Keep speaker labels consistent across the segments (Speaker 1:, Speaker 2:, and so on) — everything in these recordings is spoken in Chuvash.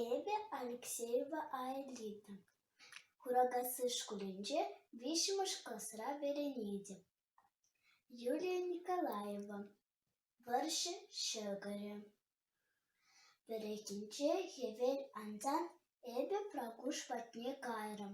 Speaker 1: Эпӗ Алексеева Аэлита, Куракасси шкулӗнче виҫҫӗмӗш класра вӗренетӗп. Юлия Николаева, вӑрҫӑ ҫӑкӑрӗ. Вӗрентенче хӗвел ансан эпӗ Пракуш патне кайрӑм.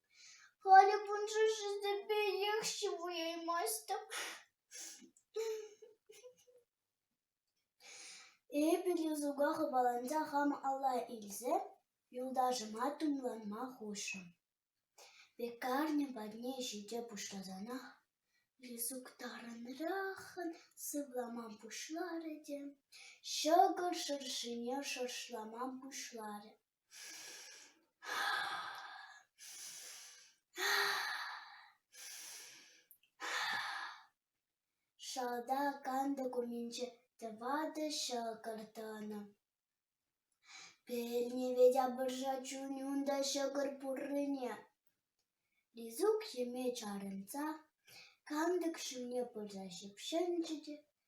Speaker 1: Халӗ шыҫӑсемпе йӑх ҫывӑраймастӑп. Эпӗ юсука хыпаланса хам алла илсе юлташӑма тумланма хушрӑм. Пекарня патне ҫите пуҫласанах юсук тарӑнраххӑн сывлама пуҫларӗ те ҫӑкӑр шӑршине шӑршлама пуҫларӗ. Шалта кантӑк умӗнче тӑватӑ ҫӑкӑр тӑнӑ. Пелне Ветяпӑрша чунӗ унта ҫӑкӑр пуррине. Лизук йӗме чарӑнса кантӑк ҫумне пырса ҫыпҫӑнчӗ те